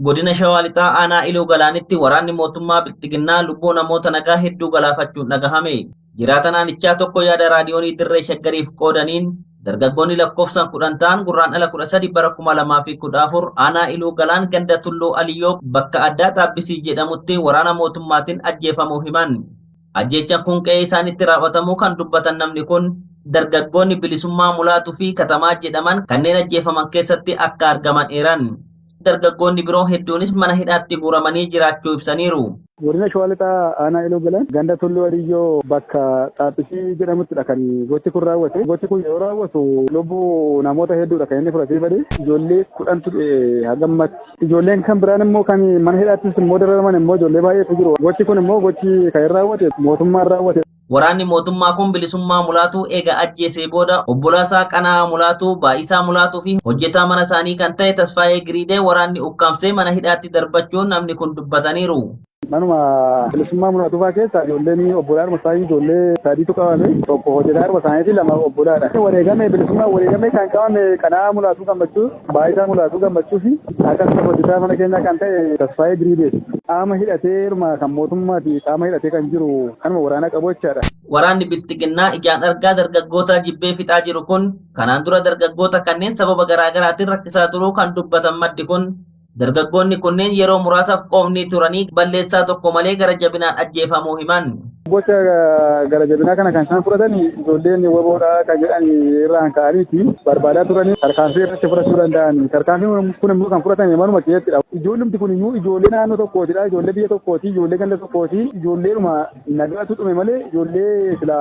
Godina Shawaa Lixaa Aanaa Iluu Galaanitti waraanni mootummaa Bilxiginnaa lubbuu namoota nagaa hedduu galaafachuun dhagahame. Jiraataan aanichaa tokko yaada raadiyoonii dirree shaggariif qoodaniin dargaggoonni lakkoofsaan kudhan ta'an gurraan ala kudha sadi bara kuma lamaa fi kudha afur aanaa Iluu Galaan ganda Tulluu Aliyyoo bakka addaa Taabbisii jedhamutti waraana mootummaatiin ajjeefamuu himan. Ajjeechaan kun qe'ee isaanitti raawwatamuu kan dubbatan namni kun dargaggoonni bilisummaa mulaatuu fi katamaa jedhaman kanneen ajjeefaman keessatti akka argaman eeran. Dargaggoonni biroo hedduunis mana hidhaatti guuramanii jiraachuu ibsaniiru. Godina Shawaa Lixaa Aanaa Iluu Galaan ganda Tulluu Adiyyoo bakka Xaaphisii jedhamuttidha kan gochi kun raawwate. Gochi kun yeroo raawwatu lubbuu namoota hedduudha kan inni fudhatee bade. Ijoollee kudhantu du'e hanga ammatti. Ijoolleen kan biraan immoo kan mana hidhaattis immoo dararaman immoo ijoollee baay'eetu jiru. Gochi kun immoo gochi kan hin raawwate mootummaan raawwate. Waraanni mootummaa kun Bilisummaa Mulaatuu eega ajjeesee booda obbolaasaa Qana'aa Mulaatuu, Baay'isaa Mulaatuu fi hojjetaa mana isaanii kan ta'e Tasfaayee Giriidee waraanni ukkaamsee mana hidhaatti darbachuun namni kun dubbataniiru. Manuma bilisummaa mul'atufaa keessa ijoolleen obbolaadhuma isaanii ijoollee sadii tuqa malee tokko hojjetaadhuma isaaniitii lama obbolaadha. Wareegamee bilisummaa wareegamee kan qabame qana'aa mul'atuu gammachuu baay'isaa mul'atuu gammachuu fi akkasumas hojjetaa mana keenyaa kan ta'e tasfaayee diriibeeti. Qaama hidhateeruma kan mootummaati qaama hidhatee kan jiru kanuma waraanaa qabu jechaadha. Waraanni bilxiginnaa ijaan argaa dargaggootaa jibbee fixaa jiru kun kanaan dura dargaggoota kanneen sababa garaagaraatiin rakkisaa turuu kan dubbatan maddi kun Dargaggoonni kunneen yeroo muraasaaf qoofni turanii balleessaa tokko malee gara jabinaan ajjeefamuu himan. Gocha gara jabinaa kana kan isaan fudhatan ijoolleen waboodha kan jedhan irraan ka'aniiti barbaadaa turanii tarkaanfii irratti fudhachuu danda'an. Tarkaanfiin kun immoo kan fudhatame manuma keessattidha. Ijoollumti kun iyyuu ijoollee naannoo tokkootidha. Ijoollee biyya tokkooti, ijoollee ganda tokkooti, ijoolleedhuma Nagaatu dhume malee ijoollee sila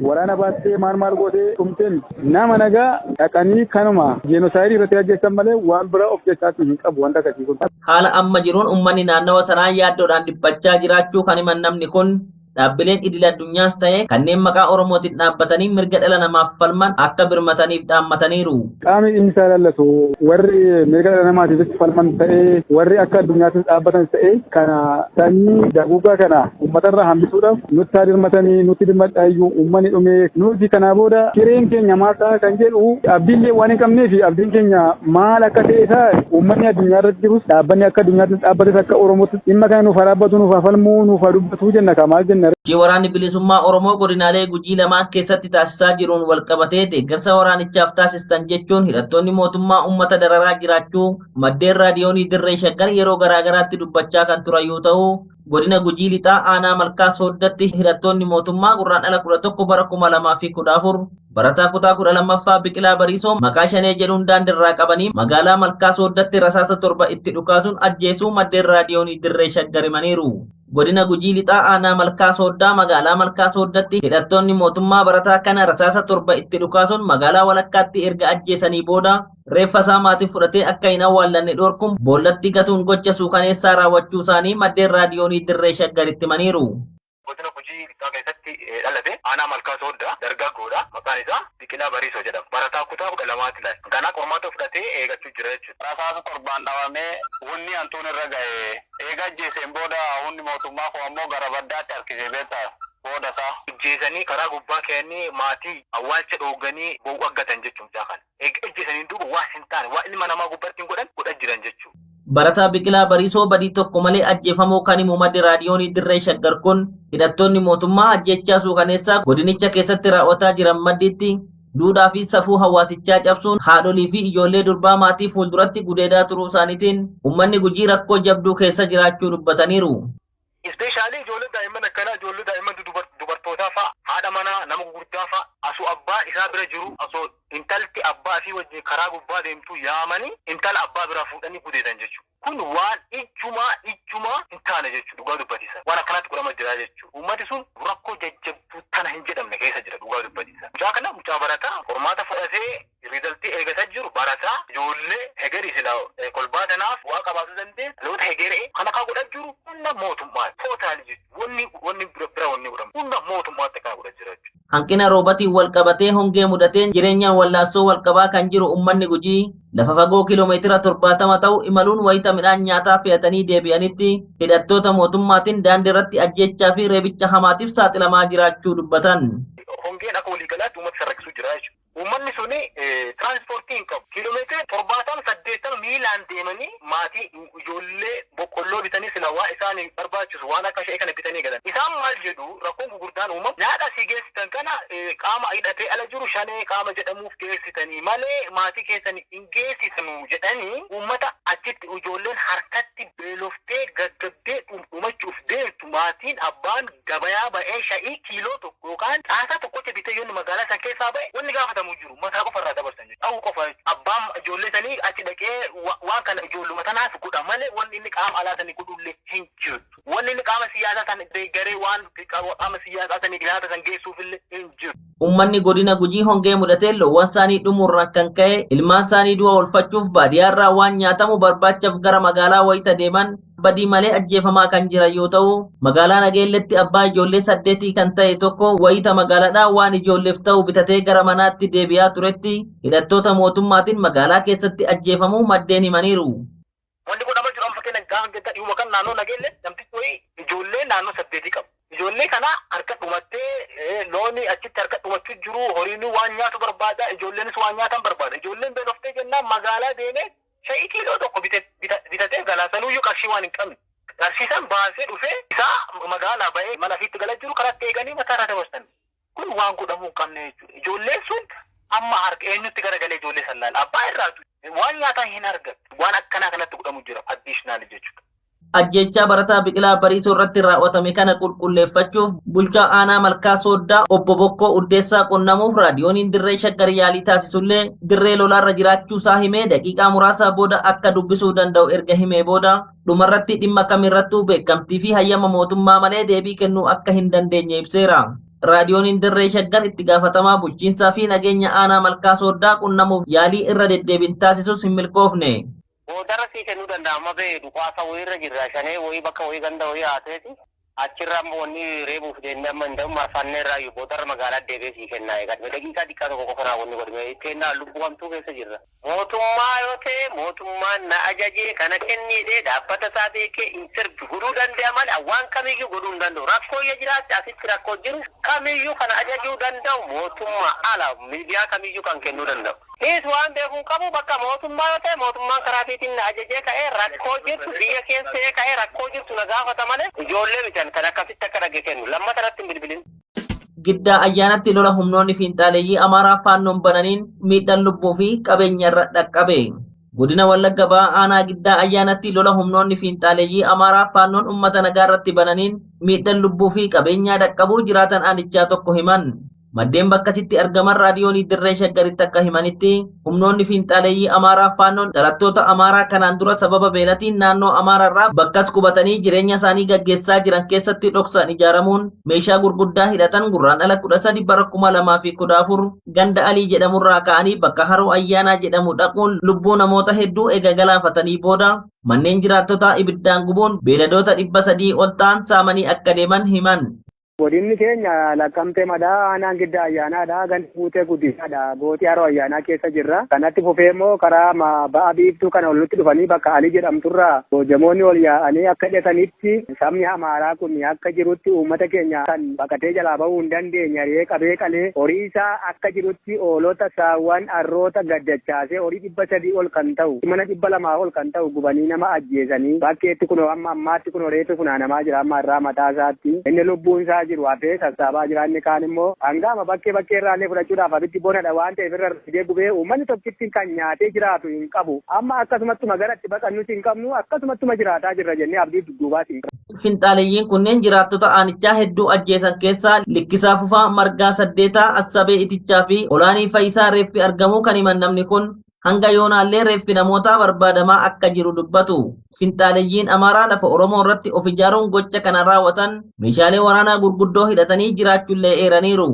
waraana baattee maal maal gootee dhumtee miti. Nama nagaa dhaqanii kanuma jeenosaayiidii irratti ajjeessan malee waan biraa of keessaatii hin qabu wanta akkasii kun. Haala amma jiruun ummanni naannawa sanaa yaaddoodhaan dhiphachaa jiraachuu kan himan namni kun dhaabbileen idil addunyaas ta'ee kanneen maqaa Oromootiin dhaabbatanii mirga dhala namaaf falman akka birmataniif dhaammataniiru. Qaamni dhimmi isaa ilaallatu warri mirga dhala namaatiifis falman ta'ee warri akka addunyaattis dhaabbatan ta'ee kana sanyii daguugaa kana uummatarraa hambisuudhaaf nutti haa dirmatanii nutti dirmadhaa iyyuu uummanni dhumee nuti kanaa booda hireen keenya maal ta'a kan jedhu abdiillee waan hin qabneef abdiin keenya maal akka ta'e isaa uummanni addunyaa irratti jirus dhaabbanni akka addunyaattis dhaabbates akka oromootti dhimma kana nuuf haa dhaabbatu nuuf haa falmuu nuuf haa dubbatu jenna kaa maal jenna Sochii waraanni bilisummaa Oromoo godinaalee Gujii lamaan keessatti taasisaa jiruun walqabatee deeggarsa waraanicha Haaromsaaf taasistan jechuun hidhattoonni mootummaa uummata dararaa jiraachuu maddeen raadiyoonii dirree shaggar yeroo garaagaraatti dubbachaa kan turan yoo ta'u godina gujii lixaa aanaa malkaa sooddatti hidhattoonni mootummaa gurraan dhala 11 bara 2014 barataa kutaa 12ffaa biqilaa bariisoo maqaa shanee jedhuun daandirraa qabanii magaalaa malkaa sooddatti rasaasa torba itti dhukaasuun ajjeesuu maddeen raadiyoonii dirree shaggar himaniiru. Godina Gujii Lixaa Aanaa Malkaa Sooddaa magaalaa Malkaa Sooddatti hidhattoonni mootummaa barataa kana rasaasa torba itti dhukaasuun magaalaa walakkaatti erga ajjeesanii booda reeffa isaa maatiin fudhatee akka hin awwaallanne dhorkuun boollatti gatuun gocha suukaneessaa raawwachuu isaanii maddeen raadiyoonii dirree shaggaritti himaniiru. Godina Gujii Lixaa keessatti dhalate aanaa Malkaa Sooddaa dargaggoodha. Maqaan isaa Biqilaa Bariisoo jedhama. Barataa kutaa kudha lamaati laal. Ganaa qormaata fudhatee eegachuu jira jechuudha. rasaasa torbaan dhawamee wonnii hantuun irra gaye eega ajjeeseen booda hunni mootummaa koo ammoo gara baddaatti harkisee beetta booda isaa. ijjeesanii karaa gubbaa keeyanii maatii awwaalcha dhoogganii bow'u aggatan jechu mucaa kana eega ijjeesaniin duuba waan hin taane waan ilma namaa gubbaa ittiin godhan godha jiran jechu. Barataa Biqilaa Bariisoo badii tokko malee ajjeefamuu kan himu maddi raadiyoonii Dirree Shaggar kun hidhattoonni mootummaa ajjechaa suukaneessaa godinicha keessatti raawwataa jiran maddiitti Duudhaa fi safuu hawaasichaa cabsuun haadholii fi ijoollee durbaa maatii fuulduratti gudeedaa turuu isaaniitiin uummanni Gujii rakkoo jabduu keessa jiraachuu dubbataniiru. Ispeeshaalii ijoollee daa'imman akkanaa ijoollee daa'imman dudubar- dubartootaa fa'a haadha manaa nama gugurdaa fa'a asoo abbaa isaa bira jiru asoo intalti abbaa isii wajjin karaa gubbaa deemtuu yaamanii intala abbaa biraa fuudhanii gudeedan jechuudha. Kun waan ijjumaa ijjumaa hin taane jechu dhugaa dubbatiisa waan akkanaatti godhama jiraa jechu uummati sun rakkoo jajjabduu tana hin jedhamne keessa jira dhugaa dubbatiisa mucaa kana mucaa barataa qormaata fudhatee rizaltii eegata jiru barataa ijoollee hegerii sila kolbaa tanaaf bu'aa qabaatu dandee dhaloota hegeree kan akkaa godha jiru hunda mootummaa tootaali jechu wanni wanni bira wanni godhamu hunda mootummaatti akkana godha jira jechu. Hanqina roobatiin walqabatee hongee mudateen jireenyaan wallaansoo walqabaa kan jiru ummanni Gujii lafa fagoo kiiloomeetira 70 ta'u imaluun wayita midhaan nyaataa fe'atanii deebi'anitti hidhattoota mootummaatiin daandii irratti ajjeechaa fi reebicha hamaatiif saaxilamaa jiraachuu dubbatan. Hongeen akka waliigalaatti uummata isa rakkisuu jira jechuudha. Uummanni sun tiraansipoortii hin qabu. Kiilomeetira 70, 80 miilaan deemanii maatii, ijoollee boqqolloo bitanii silaa waan isaan barbaachisu waan akka sha'ee kana bitanii galan. Isaan maal jedhu rakkoon gugurdaan uumamu nyaata asii geessitan kana qaama hidhatee ala jiru shanee qaama jedhamuuf geessitanii malee maatii keessan hin geessitanu jedhanii uummata achitti ijoolleen harkatti beeloftee gaggabdee dhudhumachuuf deemtu. Maatiin, abbaan, gabayaa ba'ee sha'ii kiiloo tokko yookaan xaasaa tokkocha bitee yoo inni magaalaa san keessaa ba'e wanni gaafatamu hin jiru. Mataa qofa irraa dabarsan jechuudha. Dhahuu qofa jechuudha. Abbaan ijoollee sanii achi dhaqee waan kana ijoolluma tanaaf godha malee wanni inni qaama alaa sanii godhullee hin jirtu. Wanni inni qaama siyyaasaa san deeggaree waan qaama siyyaasaa saniif nyaata san geessuufillee hin jiru. Uummanni godina Gujii hongee mudateen loowwansaanii dhumuurraan kan ka'e ilmaansaanii du'a oolfachuuf baadiyyaarraa waan nyaatamu barbaachaf gara magaalaa wayita deeman badii malee ajjeefamaa kan jiran yoo ta'u magaalaa Nageelletti abbaa ijoollee saddeetii kan ta'e tokko wayita magaalaadhaa waan ijoolleef ta'u bitatee gara manaatti deebi'aa turetti hidhattoota mootummaatiin magaalaa keessatti ajjeefamuu maddeen himaniiru. Wanti godhama jiru amma fakkeenyaaf gaafa getta dhiyuma kan naannoo nageelle namtichi wayii ijoollee naannoo saddeetii qabu. Ijoollee kana harka dhumattee eh, looni achitti harka dhumachuu jiru horiinuu waan nyaatu barbaada ijoolleenis waan nyaatan barbaada. Ijoolleen beeloftee jennaan magaalaa deemee shayii kiiloo tokko bite- bita- bitatee galaa sanuuyyuu qarshii waan hin qabne. Qarshii san baasee dhufee isaa magaalaa ba'ee mana fiitti gala jiru karatti eeganii mataa irraa dabarsan. Kun waan godhamuu hin qabne jechuudha. Ijoolleen sun amma harka eenyutti garagalee ijoollee san laala? Abbaa irraatu. Waan nyaataa hin argattu. Waan akkanaa kanatti godhamu jira addiishinaali jechuudha. Ajjeechaa barataa Biqilaa Bariisoo irratti raawwatame kana qulqulleeffachuuf bulchaa aanaa Malkaa Sooddaa obbo Bokkoo Uddeessaa qunnamuuf raadiyooniin dirree shaggar yaalii taasisullee dirree lolaarra jiraachuusaa himee daqiiqaa muraasaa booda akka dubbisuu danda'u erga himee booda dhumarratti dhimma kamirrattuu beekamtii fi hayyama mootummaa malee deebii kennuu akka hin dandeenye ibseera. Raadiyooniin Dirree Shaggar itti gaafatamaa bulchiinsaa fi nageenya aanaa malkaa sooddaa qunnamuuf yaalii irra deddeebiin taasisus hin milkoofne. Boodarra sii kennuu danda'a amma bee duqaasa wayii irra jirra shanee wayii bakka wayii ganda wayii haateeti. Achirraa immoo wanni reebuuf deemnee amma hindahu marfannee irraayyu boodarra magaalaa deebi'ee sii kennaa eegadhu mee daqiiqaa xiqqaa tokko qofa naa wanni godhi mee itti hennaa lubbuu hamtuu keessa jirra. Mootummaa yoo ta'e mootummaan na ajajee kana kenni jedhee dhaabbata isaa beekee interview godhuu danda'a malee waan kamiyyuu godhuu hin danda'u. Rakkoo yoo jiraatte asitti rakkoo jiru kamiyyuu kan ajajuu danda'u mootummaa ala miidiyaa kamiyyuu kan kennuu danda'u. Nis waan beekuun qabu bakka mootummaa yoo ta'e mootummaan karaa fiitiin na ajajee ka'ee rakkoo jirtu biyya keessa ta'ee ka'ee rakkoo jirtu na gaafata malee ijoollee miti ani kan akkasitti akka dhagge kennu lammata irratti hin bilbilin. Giddaa ayyaanatti lola humnoonni fiinxaaleeyyii Amaaraa faannoon bananiin miidhaan lubbuu fi qabeenyarra dhaqqabe. Godina Wallagga Bahaa aanaa giddaa ayyaanatti lola humnoonni fiinxaaleeyyii Amaaraa faannoon uummata nagaa irratti bananiin miidhaan lubbuu fi qabeenyaa dhaqqabuu jiraatan aanichaa tokko himan. Maddeen bakkasitti argaman raadiyoonii dirree shaggaritti akka himanitti humnoonni fiinxaaleeyyii Amaaraa faannoon dhalattoota Amaaraa kanaan dura sababa beelatiin naannoo Amaaraarraa bakkas qubatanii jireenya isaanii gaggeessaa jiran keessatti dhoksaan ijaaramuun meeshaa gurguddaa hidhatan gurraan ala 13 bara 2014 ganda Alii jedhamurraa ka'anii bakka Haroo Ayyaanaa jedhamu dhaquun lubbuu namoota hedduu ega galaafatanii booda manneen jiraattotaa ibiddaan gubuun beeladoota 300 ol ta'an saamanii akka deeman himan. Godinni keenya Laqqamtee Madaa aanaan Giddaa Ayyaanaadha. Gandi Guutee Guddisaadha. Gooxii Haroo Ayyaanaa keessa jirra. Kanatti fufee immoo karaa ba'a biiftuu kana ol nutti dhufanii bakka Alii jedhamturraa Boojamoonni ol yaa'anii akka jedhanitti sabni Amaaraa kun akka jirutti uummata keenya kan baqatee jalaa bahuu hin dandeenye ari'ee qabee qalee horii isaa akka jirutti hoolota, saawwan, harroota gad dachaasee horii 300 ol kan ta'u, mana 200 ol kan ta'u gubanii nama ajjeesanii bakkeetti kunoo hamma ammaatti kunoo reeffi funaanamaa jira amma irraa mataa isaatti inni lubbuun isaa jiru hafee sassaabaa jira inni kaan immoo hanga amma bakkee bakkee irraa illee fudhachuudhaaf abiddi bonadha waan ta'eef irra fidee gubee uummanni tokkitti kan nyaatee jiraatu hin qabu amma akkasumattuma gara itti baqannus hin qabnu akkasumattuma jiraataa jirra jennee abdii dudduubaas hin qabnu. Finxaaleyyiin kunneen jiraattota aanichaa hedduu ajjeesan keessaa Likkisaa Fufaa, Margaa Saddeetaa, Assabee Itichaa fi Olaanii Fayisaa reeffi argamuu kan himan namni kun hanga yoonaallee reeffi namootaa barbaadamaa akka jiru dubbatu. Finxaaleyyiin Amaaraa lafa Oromoo irratti of ijaaruun gocha kana raawwatan meeshaalee waraanaa gurguddoo hidhatanii jiraachullee eeraniiru.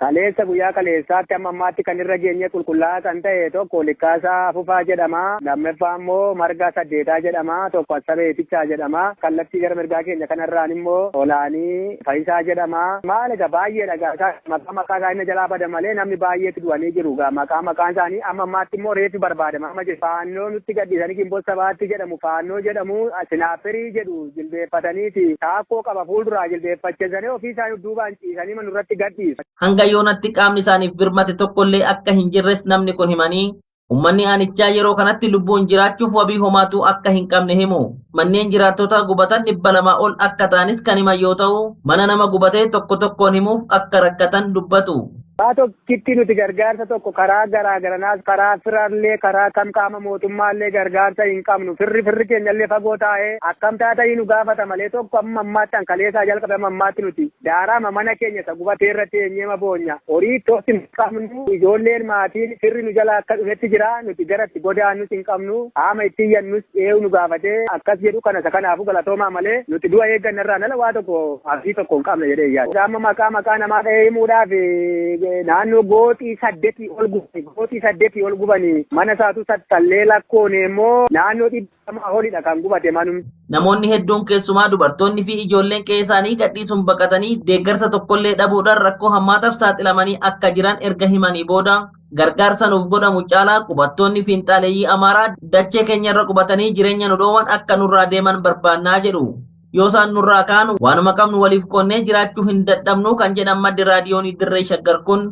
Kaleessa guyyaa kaleessaatti amma ammaatti kan irra geenyee qulqullaa'aa kan ta'e tokko Likkaasaa Afufaa jedhama. Lammaffaa immoo Margaa Saddeetaa jedhama. Tokko Assabee Itichaa jedhama. Kallattii gara mirgaa keenya kanarraan immoo Olaanii Fayisaa jedhama. Maal egaa baay'eedha egaa isaan maqaa maqaa isaa inni jalaa bada malee namni baay'eetti du'anii jiru egaa maqaa maqaan isaanii amma ammaatti immoo reeffi barbaadama amma jiru. Faannoo nutti gadhiisanii Ginbot Sabaatti jedhamu faannoo jedhamu Sinaapperii jedhu. jilbeeffatanii ti. Taakkoo qaba fuulduraa jilbeeffachesanii ofii isaanii duubaan ciisaniima nurratti gad dhiisu. Hanga yoonatti qaamni isaaniif birmate tokko illee akka hin jirres namni kun himanii, ummanni aanichaa yeroo kanatti lubbuun jiraachuuf wabii homaatuu akka hin qabne himu. Manneen jiraattotaa gubatan 200 ol akka ta'anis kan himan yoo ta'u, mana nama gubatee tokko tokkoon himuuf akka rakkatan dubbatu. Karaa tokkitti nuti gargaarsa tokko karaa garaa garanaas karaa firallee karaa kam qaama mootummaallee gargaarsa hin qabnu firri firri keenyallee fagoo taa'ee akkam taatanii nu gaafata malee tokko amma ammaatti an kaleessaa jalqabe amma ammaatti nuti daaraama mana keenya isa gubatee irra teenyeema boonya horii tooti hin qabnu ijoolleen maatiin firri nu jala akka dhufetti jira nuti gara itti godaannus hin qabnu qaama itti iyyannus eewu nu gaafatee akkas jedhu kana isa kanaafuu galatoomaa malee nuti du'a eeggannarraa nala waa tokko abdii tokko hin qabna jedhee yaada. Egaa amma maqaa maqaa namaa dhahee himuudhaaf eh, naannoo gooxii saddetii ol gubani. Gooxii saddetii ol gubani. Mana isaatu tattallee lakkoone immoo naannoo dhibba lamaa olidha kan gubate manum. Namoonni hedduun keessumaa dubartoonni fi ijoolleen qe'ee isaanii gadhiisuun baqatanii deeggarsa tokkollee dhabuudhaan rakkoo hammaataaf saaxilamanii akka jiran erga himanii booda gargaarsa nuuf godhamu caalaa qubattoonni fiinxaaleeyyii Amaaraa dachee keenyarra qubatanii jireenya nu dhoowan akka nurraa deeman barbaannaa jedhu. Yoo isaan nurraa ka'an waanuma qabnu waliif qoonnee jiraachuu hin dadhabnu kan jedhan maddi raadiyoonii dirree shaggar kun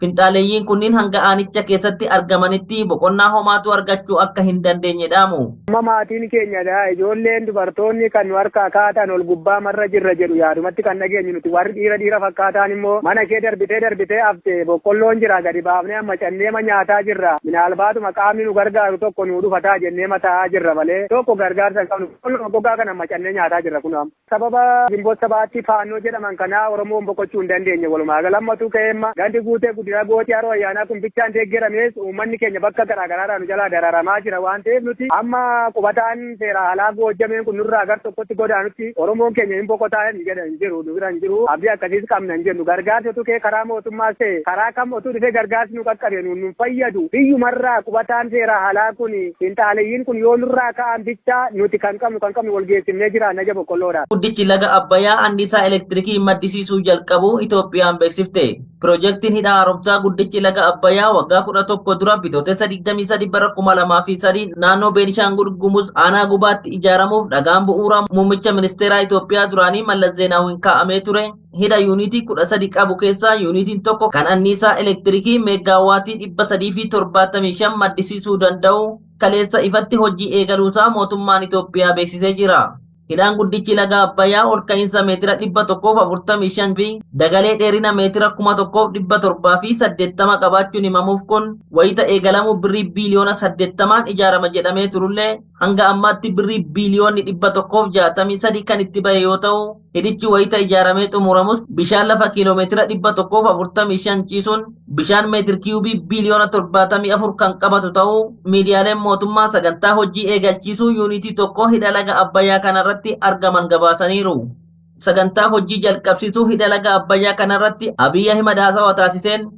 finxaaleeyyiin kunniin hanga aanicha keessatti argamanitti boqonnaa homaatu argachuu akka hin dandeenye dhaamu. Amma maatiin keenya dha. Ijoolleen dubartoonni kan nu harkaa kaatan ol gubbaa marra jirra jedhu yaadumatti kan dhageenyu nuti warri dhiira dhiira fakkaataan immoo mana kee darbitee darbitee hafte boqqolloon jira gadi baafnee amma cannee ma nyaataa jirra. Minaalbaatuma qaamni nu gargaaru tokko nu dhufataa jennee ma taa'aa jirra malee tokko gargaarsa hin qabnu. Boqqolluma gogaa kana macannee nyaataa jirra kunoo amma. Sababa Ginboot Sabaatti Faannoo jedhaman kanaa Oromoon boqochuu hin dandeenye walumaa gala. Ammatu ka'eemma gandi Guutee Guddinaa Gootii Haroo Ayyaanaa kun bichaan deeggeramees uummanni keenya bakka garaa garaarraa nu jalaa dararamaa jira waan ta'eef nuti amma qubataan seeraa alaa Goojjameen kun nurraa gar tokkotti godaanutti Oromoon keenya hin boqotaa hin jedha. jiru nu bira hin jiru abdii akkasiis qabna hin jennu gargaarsi otuu kee karaa mootummaas ta'e karaa kam otuu dhufee gargaarsi nu qaqqabe nuun nun fayyadu biyyumarraa qubataan seeraa halaa kun finxaaleyyiin kun yoo nurraa ka'an bichaa nuti kan qabnu kan qabnu wal geessifnee jiraanna ija boqqolloodhaan. Guddichi laga Abbayyaa anniisaa elektirikii maddisiisuu jalqabuu Itoophiyaan beeksifte. Pirojektiin hidha haaromsaa guddichi laga Abbayyaa waggaa 11 dura bitootessa 23 bara 2003 naannoo Beenishaangul Gumuz aanaa gubaatti ijaaramuuf dhagaan bu'uuraa muummicha ministeeraa Itoophiyaa duraanii Mallas Zeenaawiin kaa'amee ture hidha yuunitii 13 qabu keessaa yuunitiin tokko kan anniisaa elektirikii meeggaawaatii 375 maddisiisuu danda'u kaleessa ifatti hojii eegaluusaa mootummaan Itoophiyaa beeksisee jira. Hidhaan guddichi laga Abbayyaa ol ka'iinsa meetira 145 fi dagalee dheerina meetira 1780 qabaachuun himamuuf kun wayita eegalamuu birrii biiliyoona 80n ijaarama jedhamee turullee hanga ammaatti birrii biiliyoonni 163 kan itti bahe yoo ta'u hidhichi wayita ijaaramee xumuramus bishaan lafa kiiloomeetira 145 ciisuun bishaan meetir kiyuubii biiliyoona 74 kan qabatu ta'uu miidiyaaleen mootummaa sagantaa hojii eegalchiisuu yuunitii tokko hidha laga Abbayyaa kanarratti argaman gabaasaniiru. Sagantaa hojii jalqabsiisuu hidha laga Abbayyaa kanarratti Abiy Ahimad haasawa taasiseen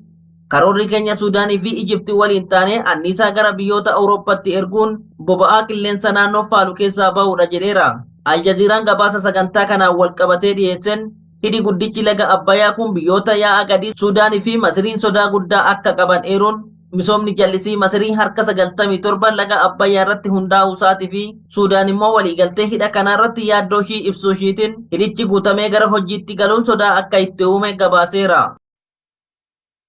karoorri keenya Suudaanii fi Ijipti waliin taanee anniisaa gara biyyoota Awurooppatti erguun boba'aa qilleensa naannoo faalu keessaa ba'uudha jedheera. Aljaziiraan gabaasa sagantaa kanaan walqabatee dhiyeesseen Hidhi guddichi laga Abbayaa kun biyyoota yaa'a gadii Suudaanii fi Masiriin sodaa guddaa akka qaban eeruun misoomni jallisii Masirii harka 97 laga Abbayyaa irratti hundaa'uu isaatii fi Suudaan immoo waliigaltee hidha kanaa irratti yaaddoo ishii ibsuu ishiitiin hidhichi guutamee gara hojiitti galuun sodaa akka itti uume gabaaseera.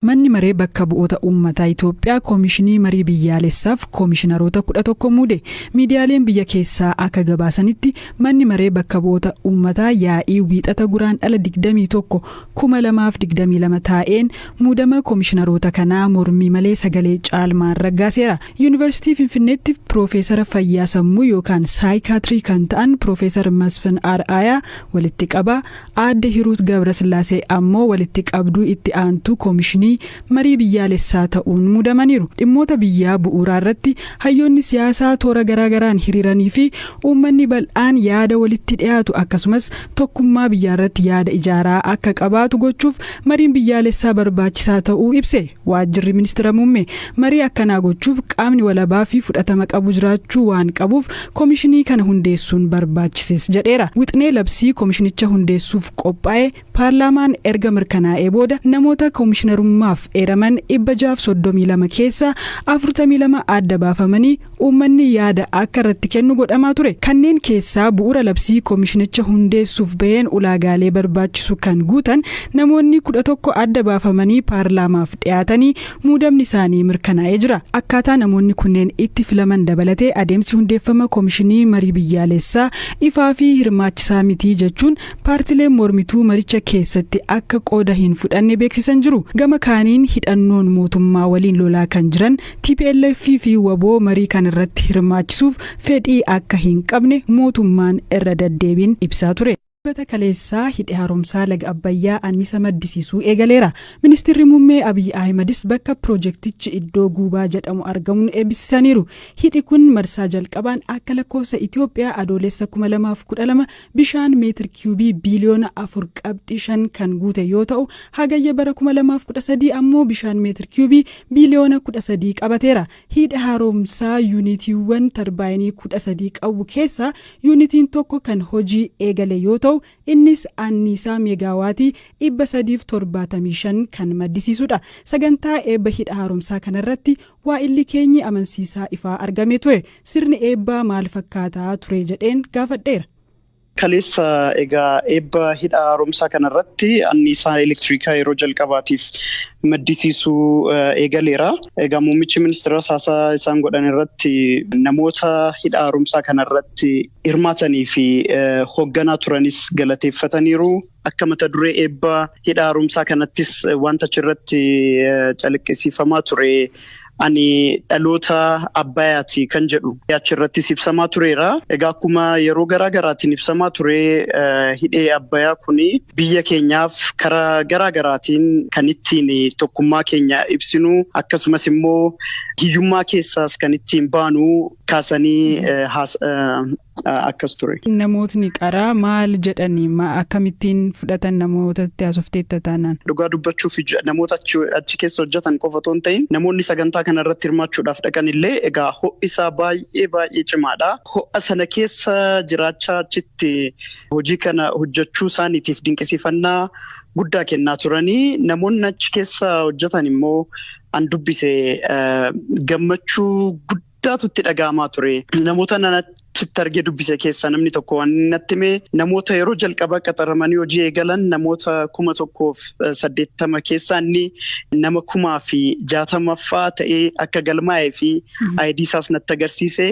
Manni Maree Bakka Bu'oota Uummataa Itoophiyaa Koomishinii Marii Biyyaalessaaf Koomishinaroota 11 muude. Miidiyaaleen biyya keessaa akka gabaasanitti, Manni Maree Bakka Bu'oota Uummataa yaa'ii Wiixata Guraandhala 21, 2022 taa'een muudama Koomishinaroota kanaa mormii malee sagalee caalmaan raggaaseera. Yuunivarsiitii Finfinneetti Piroofeesara Fayyaa Sammuu yookaan Saayikaatrii kan ta'an Piroofeesar Masfin Ar'aayaa, walitti qabaa, Aadde Hiruut Gabrasillaasee ammoo walitti qabduu itti aantuu Komishinii Marii Biyyaalessaa ta'uun muudamaniiru. Dhimmoota biyyaa bu'uuraa irratti hayyoonni siyaasaa toora garaa garaan hiriiranii fi uummanni bal'aan yaada walitti dhiyaatu akkasumas tokkummaa biyyaarratti yaada ijaaraa akka qabaatu gochuuf mariin biyyaalessaa barbaachisaa ta'uu ibse. Waajjirri Ministira Muummee marii akkanaa gochuuf qaamni walabaa fi fudhatama qabu jiraachuu waan qabuuf komishinii kana hundeessuun barbaachises jedheera. Wixnee labsii komishinicha hundeessuuf qophaa'e paarlaamaan erga mirkanaa'ee booda namoota komishinarummaaf eeraman 632 keessaa 42 adda baafamanii uummanni yaada akka irratti kennu godhamaa ture. Kanneen keessaa bu'uura labsii komishinicha hundeessuuf baheen ulaagaalee barbaachisu kan guutan namoonni 11 adda baafamanii paarlaamaaf dhiyaatanii muudamni isaanii mirkanaa'ee jira. Akkaataa namoonni kunneen itti filaman dabalatee adeemsi hundeeffama komishinii marii biyyaalessaa ifaa fi hirmaachisaa miti jechuun paartileen mormituu maricha keessatti akka qooda hin fudhanne beeksisan jiru. Gama kaaniin hidhannoon mootummaa waliin lolaa kan jiran Tplf fi wbo marii kana irratti hirmaachisuuf fedhii akka hin qabne mootummaan irra daddeebiin ibsaa ture. Dilbata kaleessaa Hidhi Haaromsaa Laga Abbayyaa annisa maddisiisuu eegaleera. Ministirri Muummee Abiy Ahimadis bakka pirojektichi iddoo Guubaa jedhamu argamuun eebbisisaniiru. Hidhi kun marsaa jalqabaan akka lakkoofsa Itoophiyaa Adoolessa 2012 Bishaan meetir kiyuubii biiliyoona 4.5 kan guute yoo ta'u, Hagayya bara 2013 ammoo bishaan meetir kiyuubii biiliyoona 13 qabateera. Hiidha Haaromsaa yuunitiiwwan tarbaayinii 13 qabu keessaa yuunitiin tokko kan hojii eegale yoo ta'u, innis anniisaa meegaawaatii 375 kan maddisiisudha. Sagantaa eebba Hidha Haaromsaa kanarratti Waa'illi keenyi amansiisaa ifaa argame ture. Sirni eebbaa maal fakkaata ture jedheen gaafadheera. Kaleessa egaa eebba hidha haaromsaa kana irratti anniisaa elektiriikaa yeroo jalqabaatiif maddisiisuu eegaleera. Egaa muummichi ministeeraas haasaa isaan godhan irratti namoota hidha haaromsaa kana irratti hirmaatanii fi hoogganaa turanis galateeffataniiru. Akka mata duree eebba hidha haaromsaa kanattis wanta achirratti calaqqisiifamaa ture ani dhaloota abbayaati kan jedhu achirrattis ibsamaa tureera. Egaa akkuma yeroo garaa garaatiin ibsamaa ture hidhee abbayaa kun biyya keenyaaf karaa garaa garaatiin kan ittiin tokkummaa keenya ibsinu akkasumas immoo hiyyummaa keessaas kan ittiin baanu kaasanii akkas ture. Namootni qaraa maal jedhani? Ma akkamittiin fudhatan namoota itti haasofteetta taanaan? Dhugaa dubbachuuf namoota achi keessa hojjetan qofa otoo hin ta'iin namoonni sagantaa kana irratti hirmaachuudhaaf dhaqan illee egaa ho'i isaa baay'ee baay'ee cimaadha. Ho'a sana keessa jiraachaa achitti hojii kana hojjechuu isaaniitiif dinqisiifannaa guddaa kennaa turanii namoonni achi keessa hojjetan immoo an dubbise gammachuu guddaa guddaatu itti dhaga'amaa ture. Namoota nanachitti argee dubbise keessaa namni tokko waan inni natti hime namoota yeroo jalqabaa qaxaramanii hojii eegalan namoota kuma tokkoof saddeettama keessaa inni nama kumaa fi jaatamaffaa ta'ee akka galmaa'ee fi ayidii isaas natti agarsiise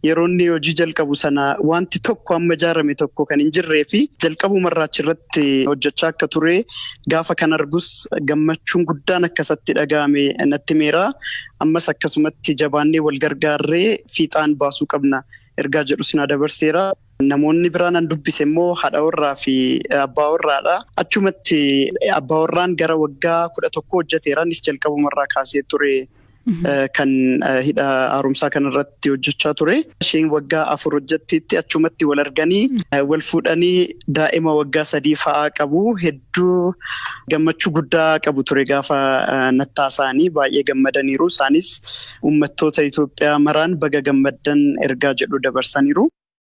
yeroo inni hojii jalqabu sana wanti tokko amma ijaarame tokko kan hin jirree fi jalqabumarraa achirratti hojjechaa akka ture gaafa kan argus gammachuun guddaan akkasatti dhaga'ame natti himeera. Ammas akkasumatti jabaannee wal gargaarree fiixaan baasuu qabna ergaa jedhu sinaa dabarseera. Namoonni biraan an dubbise immoo haadha warraa fi abbaa warraadha. Achumatti abbaa warraan gara waggaa kudha tokko hojjeteera. Innis jalqabumarraa kaasee ture kan hidha haaromsaa kanarratti hojjechaa ture. Isheen waggaa afur hojjetteetti achumatti wal arganii wal fuudhanii daa'ima waggaa sadii fa'aa qabu. hedduu gammachuu guddaa qabu ture gaafa nattaa isaanii baay'ee gammadaniiru. Isaanis uummattoota Itoophiyaa maraan baga gammaddan ergaa jedhu dabarsaniiru.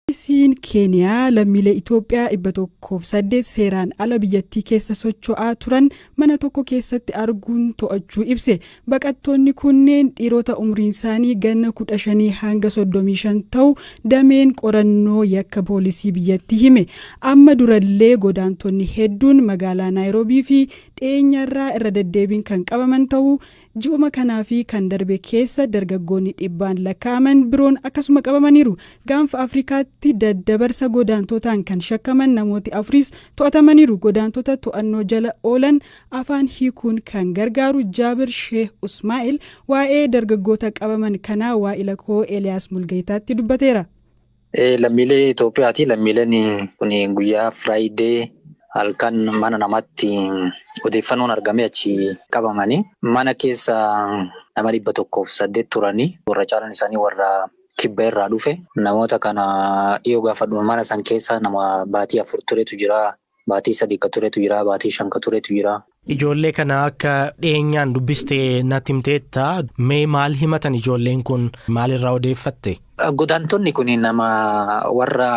Poolisiin Keeniyaa lammiilee Itoophiyaa 108 seeraan ala biyyattii keessa socho'aa turan mana tokko keessatti arguun to'achuu ibse. Baqattoonni kunneen dhiirota umriinsaanii ganna 15-35 ta'u dameen qorannoo yakka poolisii biyyattii hime. Amma durallee godaantonni hedduun magaalaa Naayiroobii fi dhiyeenyarraa irra deddeebiin kan qabaman ta'uu, ji'uma kanaa fi kan darbe keessa dargaggoonni dhibbaan lakkaa'aman biroon akkasuma qabamaniiru. Gaanfa Afrikaatti daddabarsa godaantootaan kan shakkaman namooti afuris to'atamaniiru. Godaantota to'annoo jala oolan afaan hiikuun kan gargaaru Jaabir Sheeh Usmaa'il waa'ee dargaggoota qabaman kanaa waa'ila koo Eliyaas Mulgayitaatti dubbateera. Lammiilee Itoophiyaati. Lammiileen kun guyyaa Friday halkan mana namaatti odeeffannoon argamee achi qabamanii mana keessa nama dhibba tokkoof saddeet turanii warra caalaan isaanii warra kibba irraa dhufe namoota kana yoo gaafadhu mana san keessa nama baatii afur turetu jira Baatii sadii ka turetu jira, baatii shan ka turetu jira. Ijoollee kana akka dhiyeenyaan dubbiste natti himteetta. Mee maal himatan ijoolleen kun? Maalirraa odeeffatte? Godaantonni kun nama warra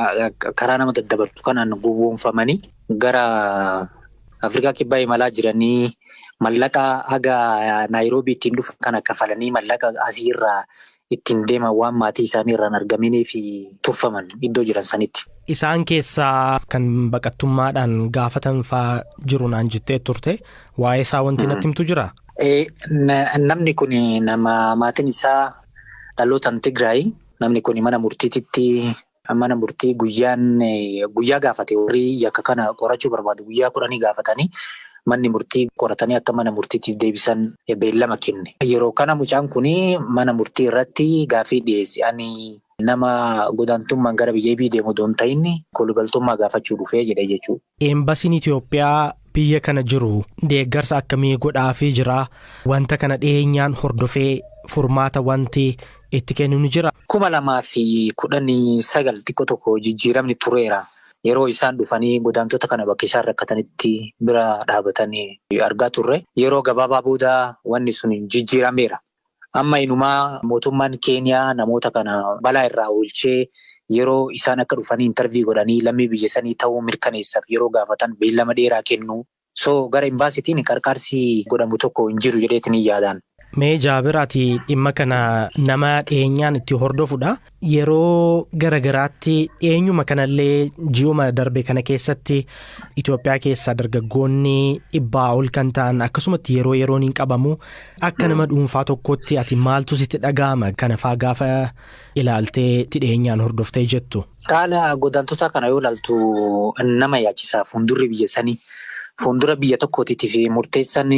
karaa nama daddabarsu kanaan gowwoomfamanii gara Afrikaa Kibbaa imalaa jiranii mallaqa haga Naayiroobii ittiin dhufan kana kafalanii mallaqa asii irraa ittiin deeman waan maatii isaanii irraa hin argaminiif tuffaman iddoo jiran sanitti. Isaan keessaa kan baqattummaadhaan gaafatan faa jiru naan jettee turte. Waa'ee isaa wanti natti himtu jiraa? Ee, na- namni kun nama maatiin isaa dhalootaan Tigraay namni kun mana murtiititti Mana murtii guyyaan guyyaa gaafate warri yakka kana qorachuu barbaadu guyyaa kudhanii gaafatanii manni murtii qoratanii akka mana murtiitiif deebisan beellama kenne. Yeroo kana mucaan kun mana murtii irratti gaaffii dhiyeesse. Ani nama godaantummaan gara biyya ibii deemu odoo hin ta'in kolugaltummaa gaafachuu dhufe jedhe jechuudha. Eembasiin Itoophiyaa biyya kana jiru deeggarsa akkamii godhaafii jira? Wanta kana dhiyeenyaan hordofee furmaata wanti itti kennu ni jira? 2019 xiqqo tokko jijjiiramni tureera. Yeroo isaan dhufanii godaantota kana bakka isaan rakkatanitti bira dhaabatan argaa turre. Yeroo gabaabaa booda wanni sun jijjiirameera. Amma inumaa mootummaan Keeniyaa namoota kana balaa irraa oolchee yeroo isaan akka dhufanii interview godhanii lammii biyya sanii ta'uu mirkaneessaf yeroo gaafatan beellama dheeraa kennu. So gara Embaasitiin qarqaarsi godhamu tokko hin jiru jedheetiin hin yaadaan. Mee Jaabir ati dhimma kana nama dhiyeenyaan itti hordofudha. Yeroo gara garaatti dhiyeenyuma kanallee ji'uma darbe kana keessatti Itoophiyaa keessaa dargaggoonni dhibbaa ol kan ta'an akkasumatti yeroo yeroon hin qabamu akka nama dhuunfaa tokkotti ati maaltu sitti dhaga'ama kana faa gaafa ilaaltee itti dhiyeenyaan hordoftee jettu. Haala godaantota kana yoo ilaaltu nama yaachisa fuuldurri biyya sanii fuuldura biyya tokkootiitiif murteessan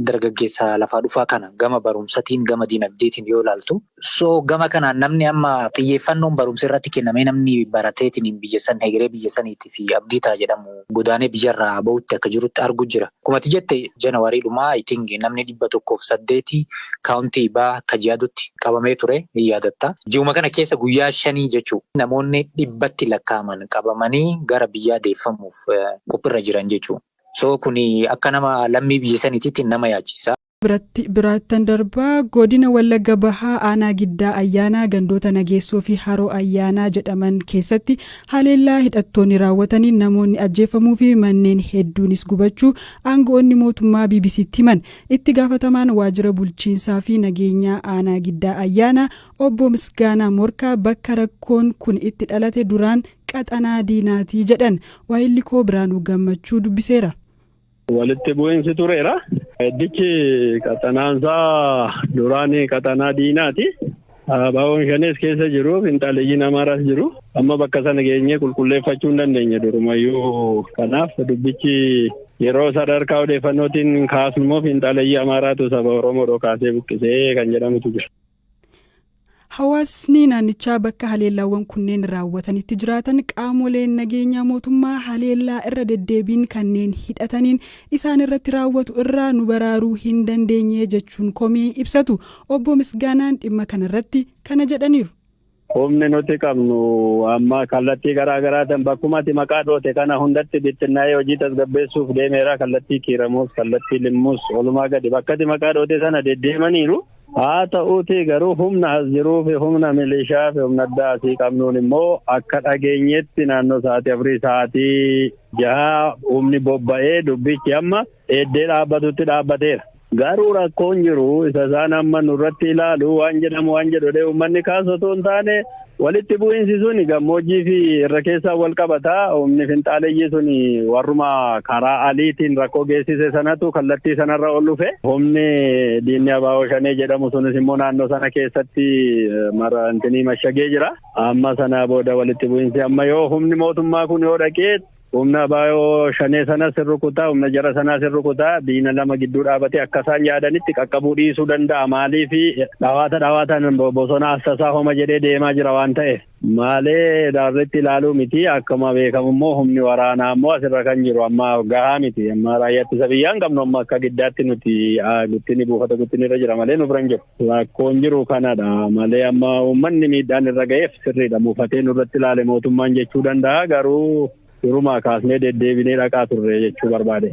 dargaggeessa lafaa dhufaa kana gama barumsatiin gama dinagdeetiin yoo ilaaltu So gama kanaan namni amma xiyyeeffannoon barumsa irratti kennamee namni barateetiin biyyessan hegeree biyyessaniitti fi abdii ta'a jedhamu godaanee biyyarraa ba'utti akka jirutti argu jira. Kumati jette Janawarii dhumaa I think namni dhibba tokkoof saddeeti kaawuntii baa Kajiadutti qabamee ture ni yaadatta. Ji'uma kana keessa guyyaa shanii jechuu namoonni dhibbatti lakkaa'aman qabamanii gara biyyaa deeffamuuf qophirra jiran jechuu. So kuni akka nama lammii biyyesaniititti nama yaachisa. biratti biraattan darba. Godina Wallagga Bahaa aanaa Giddaa Ayyaanaa gandoota Nageessoo fi Haroo Ayyaanaa jedhaman keessatti haleellaa hidhattoonni raawwataniin namoonni ajjeeffamuu fi manneen hedduunis gubachuu aanga'oonni mootummaa BBC'tti himan. Itti gaafatamaan waajjira bulchiinsaa fi nageenyaa aanaa Giddaa Ayyaanaa obbo Misgaanaa Morkaa bakka rakkoon kun itti dhalate duraan qaxanaa diinaati jedhan. Waahillikoo Biraanuu Gammachuu dubbiseera. Walitti bu'iinsi tureera. Iddichi qaxanaansaa duraan qaxanaa diinaati. Abaawwan shanees keessa jiru, finxaaleyyiin Amaaraas jiru. Amma bakka sana geenyee qulqulleeffachuu hin dandeenye durumayyuu. Kanaaf dubbichi yeroo sadarkaa odeeffannootiin kaasnu immoo finxaaleyyii Amaaraatu saba Oromoo dhokaasee buqqisee kan jedhamutu jira. Hawaasni naannichaa bakka haleellaawwan kunneen raawwatanitti jiraatan qaamoleen nageenyaa mootummaa haleellaa irra deddeebiin kanneen hidhataniin isaan irratti raawwatu irraa nu baraaruu hin dandeenye jechuun komii ibsatu. Obbo Misgaanaan dhimma kanarratti kana jedhaniiru. Humni nuti qabnu amma kallattii garaa garaatiin bakkuma ati maqaa dhoote kana hundatti bittinnaa'ee hojii tasgabbeessuuf deemeera. Kallattii Kiiramuus, kallattii Limmuus, olumaa gadi bakka ati maqaa dhoote sana deddeemaniiru. Haa ta'uutii garuu humna as jiruu fi humna milishaa fi humna addaa asii qabnuun immoo akka dhageenyetti naannoo sa'aatii afurii sa'aatii jahaa humni bobba'ee dubbichi amma eeddee dhaabbatutti dhaabbateera. Garuu rakkoon jiru isa isaan amma nurratti ilaalu waan jedhamu waan jedhudhee uummanni kaasu otoo hin taane walitti bu'iinsi suni gammoojjii fi irra keessaa wal qabata. Humni finxaaleyyii suni warruma karaa aliitiin rakkoo geessise sanatu kallattii sanarra ol dhufe. Humni diinni abaaboo shanee jedhamu sunis immoo naannoo sana keessatti marantinii mashagee jira. Amma sana booda walitti bu'iinsi amma yoo humni mootummaa kun yoo dhaqee Humna abo shanee sanas hin rukuta, humna jara sanaas hin rukuta. Diina lama gidduu dhaabatee akka isaan yaadanitti qaqqabuu dhiisuu danda'a. Maaliif dhawaata dhawaataan bosona assasaa homa jedhee deemaa jira waan ta'eef. Malee daarritti ilaaluu miti. Akkuma beekamu immoo humni waraanaa immoo asirra kan jiru amma gahaa miti. Amma raayyaa ittisa biyyaa hin qabnu amma akka giddaatti nuti guttini buufata guttini irra jira malee nu bira hin jiru. Rakkoon jiru kanadha malee amma uummanni miidhaan irra ga'eef sirriidha muufatee nurratti ilaale mootummaan jechuu danda'a garuu durumaa kaasnee deddeebinee dhaqaa turre jechuu barbaade.